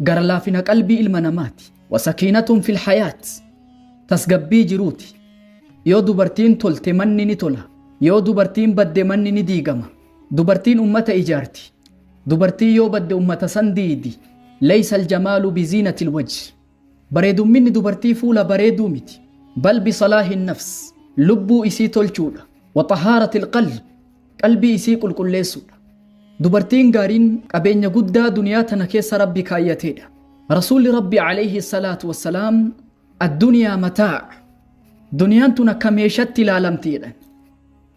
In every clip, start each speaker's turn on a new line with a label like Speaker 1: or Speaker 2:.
Speaker 1: gara laafina qalbii ilma namaati wasakiinatun fil hayaat tasgabbii jiruuti yoo dubartiin tolte manni ni tola yoo dubartiin badde manni ni diigama dubartiin ummata ijaarti dubartii yoo badde ummata san diidi leeysa aljamaalu biziinatil wajhi Bareedumminni dubartii fuula bareeduu miti. Bal bisalaahin nafs, lubbuu isii tolchuudha. Wa xahaaratil qalb, qalbii isii qulqulleessuudha. Dubartiin gaariin qabeenya guddaa duniyaa tana keessa Rabbi kaayyateedha. Rasuulli Rabbii aleyhi salaatu wassalaam Adduniyaa mataa', duniyaan tun akka meeshatti ilaalamti jedhan.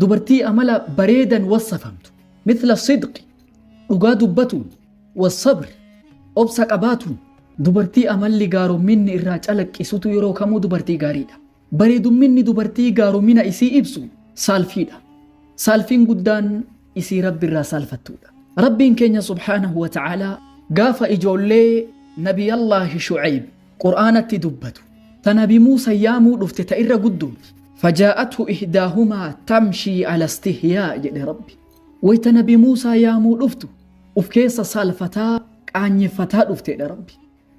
Speaker 1: Dubartii amala bareedan wassafamtu. Mithla sidqi, dhugaa dubbatuun. Wassabr, obsa qabaatuun. Dubartii amalli gaaromminni irraa calaqqisutu yeroo kamuu dubartii gaariidha. Bareedumminni dubartii gaaromina isii ibsu saalfiidha. Saalfiin guddaan isii Rabbi irraa saalfattuudha. Rabbiin keenya subhaanahu wa ta'aalaa gaafa ijoollee Nabiyyallaahi Shu'ayb Qur'aanatti dubbatu. Ta nabi Muusa yaamuu dhufte ta irra guddooti. Fajaa'athu ihdaahumaa tamshii ala istihyaa jedhe Rabbi. Wayta nabi Muusaa yaamuu dhuftu uf keessa saalfataa qaanyeffataa dhufte jedhe Rabbi.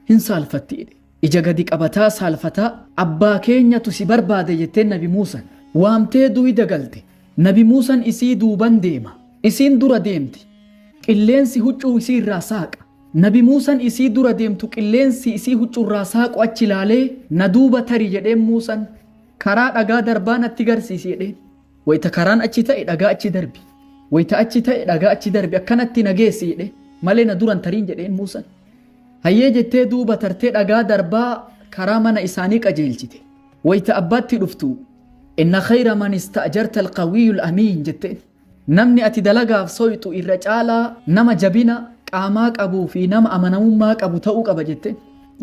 Speaker 1: Hin saalfatti jedhe. Ija gadi qabataa saalfataa abbaa keenyatu si barbaada jetteen nabi Muusan. Waamtee duuyda galte. Nabi Muusan isii duuban deema. Isiin dura deemti. Qilleensi huccuu isii irraa saaqa. Nabi Muusan isii dura deemtu qilleensi isii huccurraa saaqu achi laalee, Na duuba tari jedheen Muusan. Karaa dhagaa darbaa natti garsiisi jedheen. Wayta karaan achi ta'e dhagaa achi darbi. Wayta achi ta'e dhagaa achi darbi akkanatti na geessi jedhe. Malee na duran tariin jedheen Muusan. Hayyee jettee duuba tartee dhagaa darbaa karaa mana isaanii qajeelchite. Wayta abbaatti dhuftu, Inna khayra man ista'jarta al-qawiyyul amiin jetteen. Namni ati dalagaaf soyxu irra caalaa nama jabina qaamaa qabuu fi nama amanamummaa qabu ta'uu qaba jette.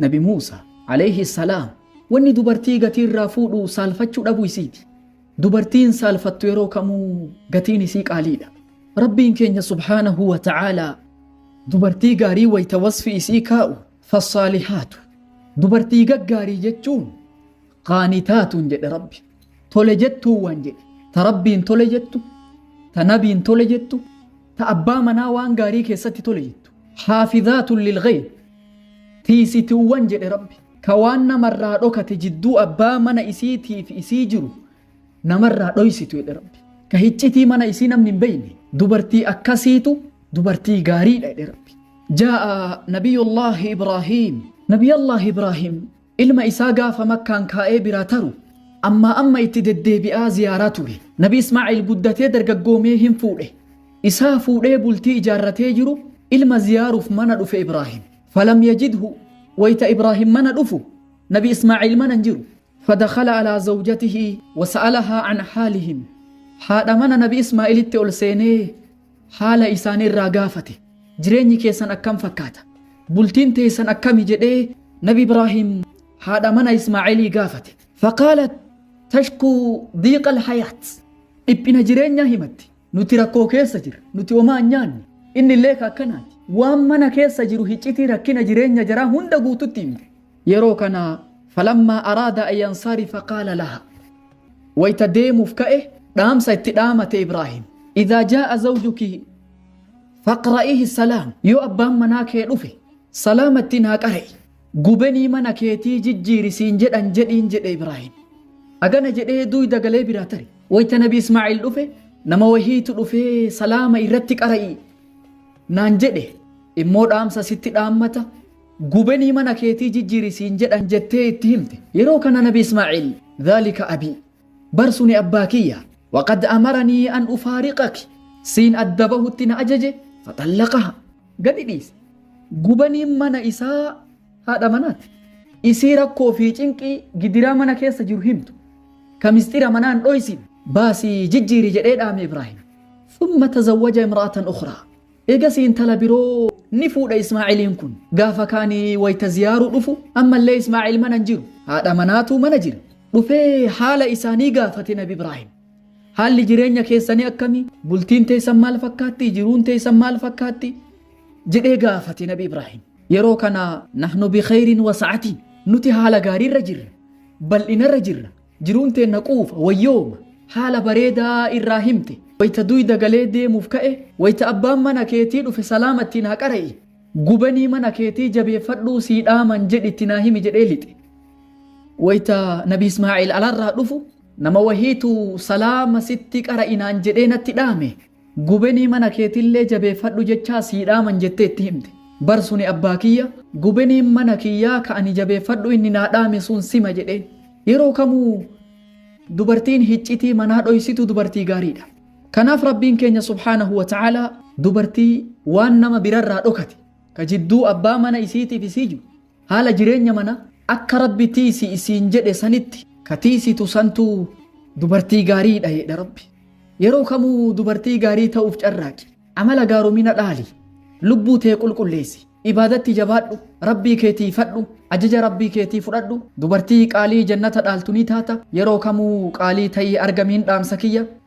Speaker 1: Nabi Muusa, alayhi salaam, wanni dubartii gatii irraa fuudhu saalfachuu dhabuu isiiti. Dubartiin saalfattu yeroo kamuu gatiin isii qaaliidha. Rabbiin keenya subhaanahu wa ta'aalaa dubartii gaarii wayta wasfi isii kaa'u fassaalihaatu dubartii gaggaarii jechuun qaanitaatuun jedhe rabbi tole jettuu waan jedhe ta rabbiin tole jettu ta nabiin tole jettu ta abbaa manaa waan gaarii keessatti tole jettu haafizaatun lilghayb tiisituuwwan jedhe rabbi ka waan namarraa dhokate jidduu abbaa mana isiitiif isii jiru namarraa dhoysitu jedhe rabbi ka hiccitii mana isii namni hin beeyne dubartii akkasiitu dubartii gaariidha jedhe rabbi jaa'a nabiyullaahi ibraahiim nabiyallaahi ibraahiim Ilma isaa gaafa Makkaan kaa'ee biraa taru ammaa amma itti deddeebi'aa ziyaaraa ture. Nabi Ismaa'iil guddatee dargaggoomee hin fuudhe. Isaa fuudhee bultii ijaarratee jiru ilma ziyaaruuf mana dhufe Ibraahim. Falam yajidhu wayta Ibraahim mana dhufu Nabi Ismaa'iil mana hin jiru. Fadakhala alaa zawjatihi wasa'alahaa an haalihim. Haadha mana Nabi Ismaa'iilitti ol seenee haala isaanii irraa gaafate jireenyi keessan akkam fakkaata bultiin teessan akkami jedhee nabi ibraahiim haadha mana ismaaciilii gaafate faqaalat tashkuu diiqa alhayaat dhiphina jireenyaa himatti nuti rakkoo keessa jira nuti homaa hin nyaanne inni illee ka akkanaati waan mana keessa jiru hiccitii rakkina jireenya jaraa hunda guututti himte Yeroo kana falammaa araada an yansarifa qaala laha. Wayta deemuuf ka'e dhaamsa itti dhaamate Ibraahim. Idhaa jaa'a zawjuki faqra'ihi salaam. Yoo abbaan manaa kee dhufe salaama ittiin haa qara'i. Gubenii mana keetii jijjiiri siin jedhan jedhiin jedhe Ibraahim. Agana jedhee duuyda galee biraa tare. Wayta nabi Ismaa'iil dhufe nama wahiitu dhufee salaama irratti qara'i naan jedhe immoo dhaamsa sitti dhaammata Gubenii mana keetii jijjiiri siin jedhan jettee itti himte. Yeroo kana nabi Ismaa'iil, Dhaalika abii, bar suni abbaa kiyya, waqad amaranii an ufaariqaki, siin adda bahutti na ajaje, faxallaqahaa. gadi dhiise. Gubeniin mana isaa haadha manaati. Isii rakkoo fi cinqii, gidiraa mana keessa jiru himtu. Ka misxira manaa hin dhoysine. Baasii jijjiiri jedhee dhaame Ibraahim. Thumma tazawwaja imra'atan ukhraa. Eegasii intala biroo ni fuudha Ismaa'iliin kun. Gaafa kaani wayta ziyaaruu dhufu ammallee Ismaa'il mana hin jiru. Haadha manaatu mana jira. Dhufee haala isaanii gaafate Nabi Ibraahim. Haalli jireenya keessanii akkami? Bultiin teessan maal fakkaatti? Jiruun teessan maal fakkaatti? jedhee gaafate Nabi Ibraahim. Yeroo kana nahnu bikhayrin wasa'atiin nuti haala gaariirra jirra. Bal'inarra jirra. Jiruun teenna quufa, wayyooma, haala bareedaa irraa himte. Wayta duyda galee deemuuf ka'e, wayta abbaan mana keetii dhufe salaama itti naa qara'i, gubanii mana keetii jabeeffadhuu sii dhaaman jedhi itti naa himi jedhee lixe. Wayta Nabi Ismaa'iil alarraa dhufu, nama wahiitu salaama sitti qara'i naan jedhee natti dhaame. Gubenii mana keetillee jabeeffadhu jechaa sii dhaaman jettee itti himte. Bar suni abbaa kiyya, Gubeniin mana kiyyaa ka ani jabeeffadhu inni naa dhaame sun sima jedheen. Yeroo kamuu dubartiin hiccitii manaa dhoysitu dubartii gaariidha. Kanaaf Rabbiin keenya subhaanahu wa ta'aalaa dubartii waan nama birarraa dhokate ka jidduu abbaa mana isiitiif isii jiru Haala jireenya mana akka rabbi tiisi isiin jedhe sanitti ka tiisitu santu dubartii gaarii dha jedha rabbi. Yeroo kamuu dubartii gaarii ta'uuf carraaqi. Amala gaaromina dhaali. Lubbuu tee qulqulleessi. Ibaadatti jabaadhu. Rabbii kee tiifadhu. Ajaja rabbii keetii fudhadhu. Dubartii qaalii jannata dhaaltu ni taata. Yeroo kamuu qaalii ta'ii argamiin dhaamsa kiyya.